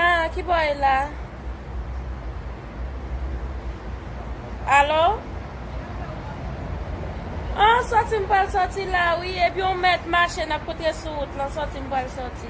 Ah, ki bò e la? Alo? Ah, sòti m pral sòti la wi, epi yon mèt mache nap kontre sou wout lan, sòti m pral sòti.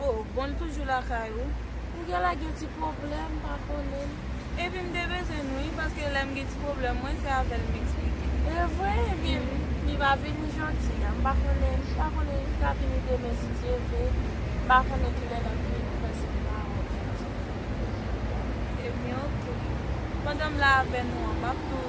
Oh bon m toujou lakay ou. Ou gen lè gen ti pwoblèm m pa konnen. Epi m te bezwen l wi paske lè m gen ti pwoblèm mwen se avè l m eksplike. Evre? Ebyen li va vini jodi a. M pa konnen, m pa konnen li ka vini demen si Dye vle. M pa konnen ki lè l ap vini prèske m pa wè l jodi a. Ebyen ok. Pandan m la avè nou an m ap tou.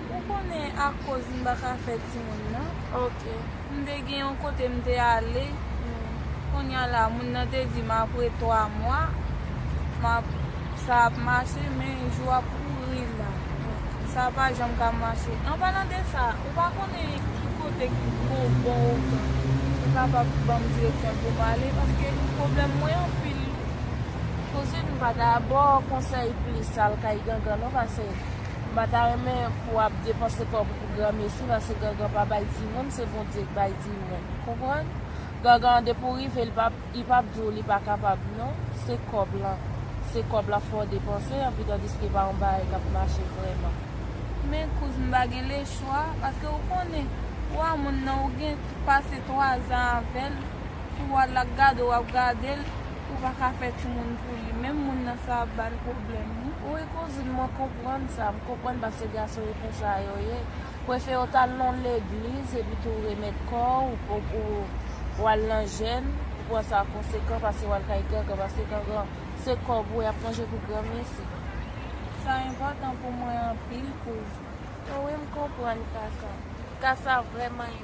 Ou konnen akoz m pa ka fè timoun nan. Ok. M te gen yon kote m te ale. Kounya la moun nan te di m apre 3 mwa m ap sa ap mache men jou ap kouri la. Sa pa janm ka mache. An palan de sa, ou pa konnen ki kote ki bon bon ou ka. Ou kapab ban m direksyon pou m ale paske pwoblèm mwen anpil. Tout swit m pa ka ba w konsèy plis al kay gangan non pase. M pa ta renmen pou ap depanse kò pou pou gran mesi paske gangan pa bay timoun se Bondye k bay timoun konprann gangan an depi w rive li pap li pap di w li pa kapab non se kòb lan se kòb lan fò w depanse anpi tandiske pa yon bagay kap mache vrèman. Men kouzn m pa gen le chwa paske ou konnen ou a moun nan ou gen pase 3 zan avèl pou wal la gade w wap gadel. Ou pa ka fè timoun pou li menm moun nan sa ap bal pwoblèm wi. Wi kouzin mwen konprann sa, m konprann paske gason yo konsa yo ye, prefere w tal nan legliz epi tou remèt kò w pou w al nan jèn, ou pran sa konsekan pase w al kay gangan paske gangan se kòb ou yap manje pou granmesi. Sa enpòtan pou mwen anpil kouz. Wi m konprann kaka. Kasa vrèman.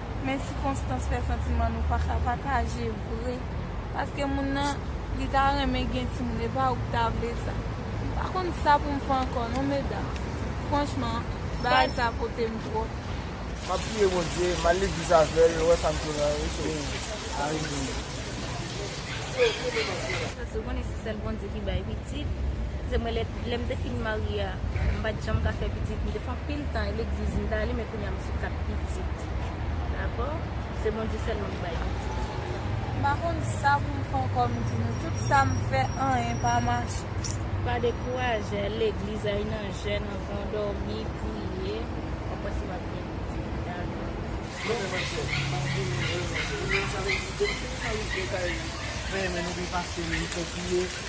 Men sikonstans fè santiman nou pa ka pataje vre paske moun nan li ta renmen gen timoun epa ouk ta vle sa m pa konn sa poum fè ankò non medam franchman bagay sa kotem tròp. Map priye bondye mal legliz avèl lè wè sa m tounen wi chérie m. Amen. Paske ou konnen se sèl Bondye ki bay piti. pitit, se mwen lè lè m te fin marye a m pat janm ka fè pitit m te fè anpil tan legliz m t ale men kounya m sou 4 pitit dakò se Bondye sèlman k bay pitit. M pa konn sa pou m fè ankò m di nou tout sa m fè anyen pa mache. Pa dekouraje al legliz al nan jèn anvan dòmi priye wap wè si wap gen pitit dakò. Non men mwen fèt map di nou vrèman vrè sa vle di depi nou fin marye m vle kay nou mwen renmen nou byen pase nou m konpliye.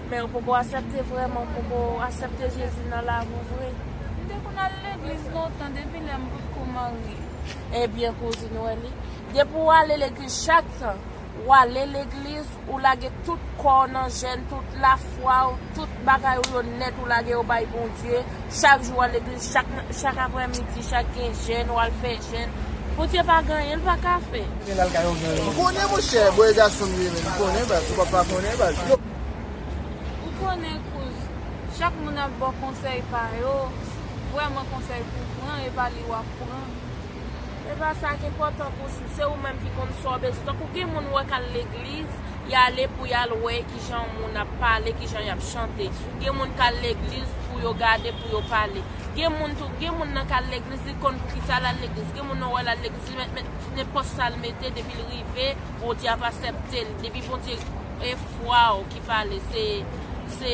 Men ou poko asepte vreman ou poko asepte jezi nan lavi w vre. M te konn al legliz lontan depi lè m potko marye. Ebyen kouzin ou wè li. Depi w ale legliz chak tan w ale legliz ou lage tout kò w nan jèn tout lafwa w tout bagay ou yo nèt ou lage yo bay Bondye chak jou w al legliz chak chak aprè midi chak gen jèn w al fè jèn Bondye pa gen anyen l pa ka fè. Konnen monchè, bòy gason m ye menn, konnen baz, ou pa pa konnen baz. Ou konnen kouz, chak moun ap baw konsèy pa yo, vrèman konsèy pou pran e pa li wap pran. Se pa sa ki enpòtan kouzn, se ou menm ki konn sa w bezwen. Tankou gen moun ou wè k al legliz, y ale pou y al wè ki jan moun ap pale, ki jan y ap chante. Gen moun k al legliz pou yo gade, pou yo pale. Gen moun tou, gen moun nan k al legliz li konn pou ki sa l al legliz. Gen moun ou wè l al legliz li mèt met nenpòt sa l mete depi l rive Bondye ap asèpte l, depi Bondye. E fwa w ki pale se se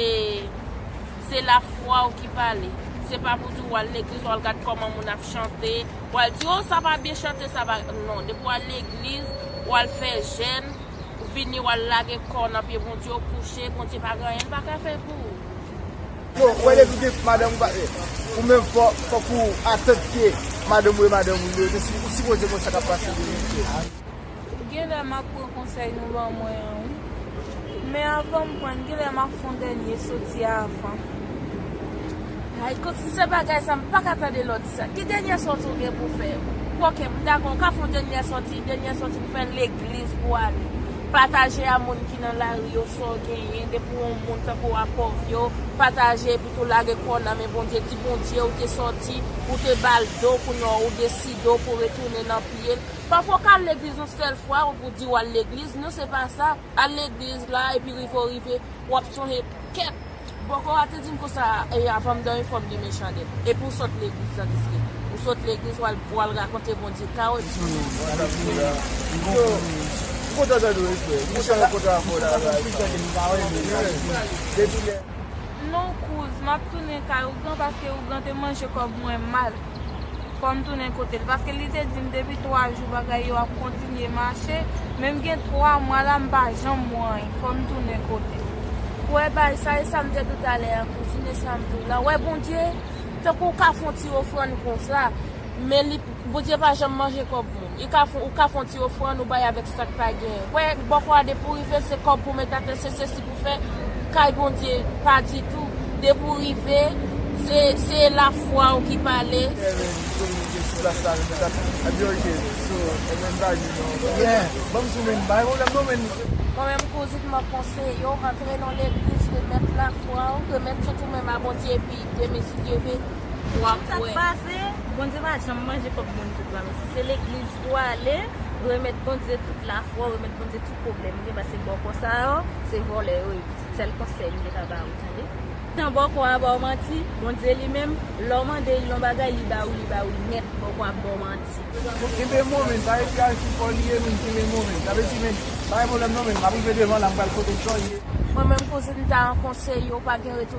se la fwa w ki pale se pa pou di w al legliz w al gad kòman moun ap chante w al di oh sa pa byen chante sa pa non depi w al legliz w al fè jèn ou vini w al lage kò w nan pye Bondye w kouche Bondye pa gen anyen li pa ka fè pou ou. Yo wè depi w gen madanm ou pa gen ou menm fòk ou atant ke madanm ou e madanm ou yo ou sipoze konn sa kap pase depi w gen. Genlè map pran konsèy nou ban mwen an wi men avanm prann genlè map fon dènye soti avan. Hay kot si se bagay sa m paka tande lòt sa ki dènyè sòti ou gen pou fè yo ok m dakò ou ka fon dènyè sòti dènyè sòti pou fè legliz pou ale pataje a moun ki nan lari yo sa w genyen depi w on moun tankou w a pòv yo pataje epi tou lage kò w nan men Bondye di Bondye ou te sòti ou te bal do kounye a ou deside ou pou retounen nan pye l Pafwa w ka al legliz yon sèl fwa ou pou di w al legliz, non se pa sa, al legliz la epi rive w rive w ap sonje kèt bòkò a te di m konsa e avan m dòmi fò m limen chandèl epi w sot legliz la deske ou sot legliz w al rakonte Bondye ka w epi Non kouz, m ap tounen kay Ougan paske Ougan te manje kòb mwen mal. fòm tounen kotel paske li te dim depi 3 jou bagay yo ap kontinye mache menm gen 3 mwa la mpa janm wè anyn fòm tounen kotel. Wè bay sa esam te diw talè an kouzine sam diw la wè bondye tankou ou ka fon ti ofrann konsa men li bondye pa janm manje kòb moun. I ka fon ou ka fon ti ofrann ou bay avèk sak pa genyen. Kwè bòkò a depi ou rive se kòb pou met atè se sesi pou fè kay Bondye pa ditou depi ou rive se se la fwa ou ki pale. Kevin kominike sou plas la menm jan epi ok so ou menm pa gen non yeah banm sou menm bay pwoblèm non menn. Mwen menm kouzin map konseyew antre nan legliz remèt la fwaw remèt tout ou menm a Bondye epi demistiyeve. Wap wè. Tout sa k pase Bondye pa janm manje kòb moun tout ba mesi se legliz ou ale remèt Bondye tout lafwa ou remèt Bondye tout pwoblèm ou gen pase bòkò sa yo se vòlè yo ye pitit sèl konsèy m te ka ba ou tande tan bòkò a ba w manti Bondye li menm lè w mande l yon bagay li ba ou li ba ou nèt bòkò ap ba w manti. Bon kenbe mo men sa epi al sou kò li ye men kenbe mo men sa vle di men pa gen pwoblèm non men map rive devan la m pral kote Joy ye. Mwen menm kouzin m ta an konseye w pa gen retou.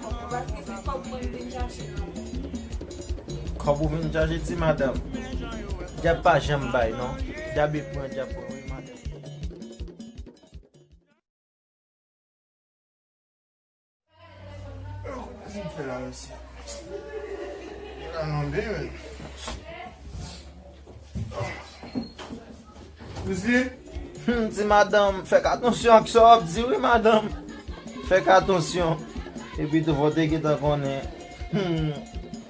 Kob ou vin chache ti madam. Dyab pa janm bay non. Dyab e pran dyab pran wi madanm. Kouzen. Humm ti madanm fèk atansyon ak sa wap di wi madanm fèk atansyon epi tou fò te gentan konnen humm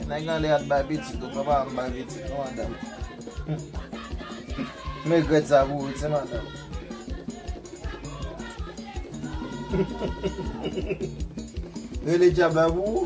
nèg lan lè yap bay pitit ou papa m bay pitit non madanm humm m regrèt sa pou ou ti madanm humm rele djab la pou ou.